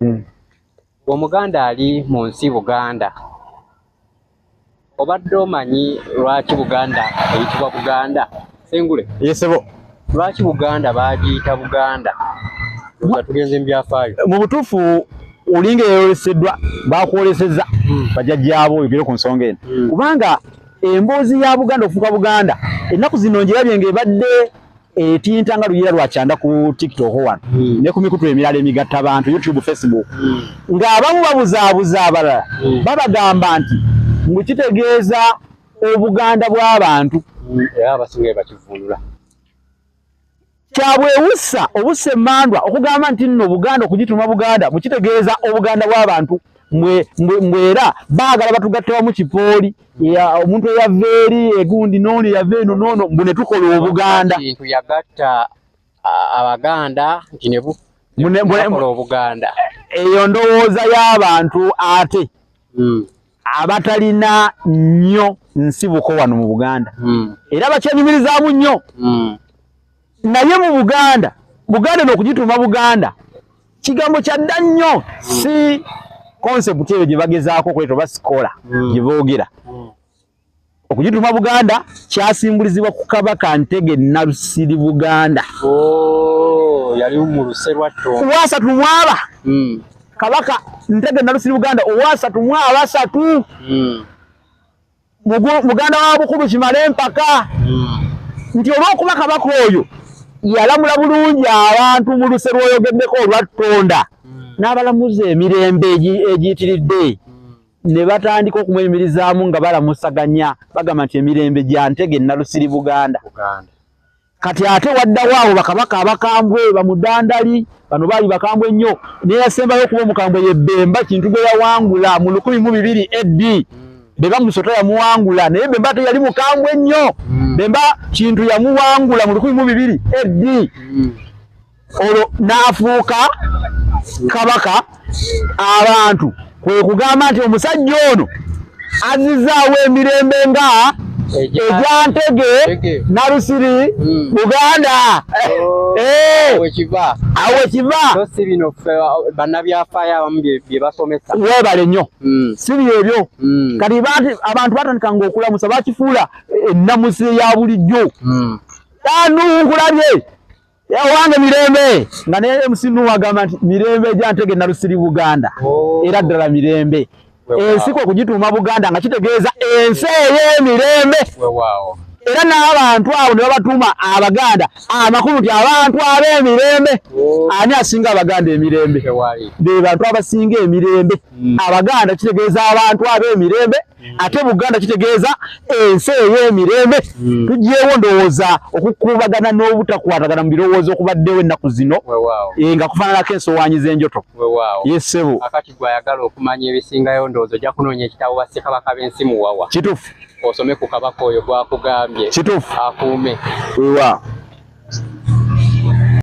hmm. omuganda ali mu nsi buganda obadde omanyi lwaki buganda eyitibwa buganda sengule yesebo lwaki buganda bagiyita buganda nga tugenze mu byafaayo mu butuufu olinga eyoleseddwa bakwoleseza hmm. bajajjaabo oyogere ku nsonga eno hmm. kubanga emboozi ya buganda okufuuka buganda ennaku zino njirabye nga ebadde etinta nga luyira lwa kyanda ku tiktok wano mm. ne ku mikutu emirala emigatta bantu youtube facebook mm. ng'abamu babuzaabuza abalala mm. babagamba nti mbu kitegeeza obuganda bw'abantu kyabwewussa obussa emmandwa okugamba nti nno buganda okugituma buganda mukitegeeza obuganda bw'abantu mbwera baagala batugatte wamu kipooli mm. ya omuntu eyava eri egundi noono eyava eno noono mbu ne tukola obuganda kintu yagatta abaganda nti ne bukola obuganda eyo ndowooza y'abantu ate hmm. abatalina nnyo nsibuko wano mu buganda hmm. era bakyanyumirizaamu nnyo hmm. naye mu buganda buganda nokugituuma buganda kigambo kyadda nnyo si concept eyo gye bagezaako okuleta oba sikola hmm. gye boogera hmm. okugituuma buganda kyasimbulizibwa ku kabaka ntege nabusiri buganda oh, yali mu luse lwatto kuwasatu mwaba hmm. kabaka ntege nabusiri buganda owasatu mwabasatu muganda wa bukulu kimale empaka hmm. nti olw'okuba kabaka oyo yalamula bulungi abantu mu luse lw'oyogeddeko olwattonda hmm. n'abalamuza emirembe egiyitiridde hmm. ne batandika okumweyimirizaamu nga balamusaganya bagamba nti emirembe gya ntege nalusiri buganda kati ate waddawo abo bakabaka abakambwe bamudandali bano baali bakambwe nnyo neyasembayo okuba omukambwe yebbemba kintu gwe yawangula mu lukumi mu bibiri ad bebamusota yamuwangula naye bemba teyali mukambwe nnyo hmm. bemba kintu yamuwangula mu lukumi mu bibiri ad hmm. olwo n'afuuka kabaka abantu kwe kugamba nti omusajja ono azizaawo emirembe nga egyantege nalusiri hmm. buganda oh, eh. awo kiva webale nnyo hmm. si byebyo hmm. kati abantu batandika nga okulamusa bakifuula ennamusi ya bulijjo tanukulabye Ewange mirembe nga ne MC Nuhu agamba nti mirembe gya ntege nalusiri Buganda oh. era ddala mirembe ensi kwe kugituuma Buganda nga kitegeeza ensi ey'emirembe era n'abantu abo ne babatuuma Abaganda amakulu nti abantu ab'emirembe oh. ani asinga Abaganda emirembe be bantu abasinga emirembe hmm. Abaganda kitegeeza abantu ab'emirembe ate buganda kitegeeza ensi ey'emirembe hmm. tugyewo ndowooza okukuubagana n'obutakwatagana mu birowoozo okubaddewo ennaku zino eh, nga kufaananako ensowaanyi z'enjoto yesebo akati gwe ayagala okumanya ebisingayo ndowooza ojja kunoonya ekitabo bassekabaka b'ensi muwawa kituufu osome ku kabaka oyo gwakugambye kituufu akuume wewa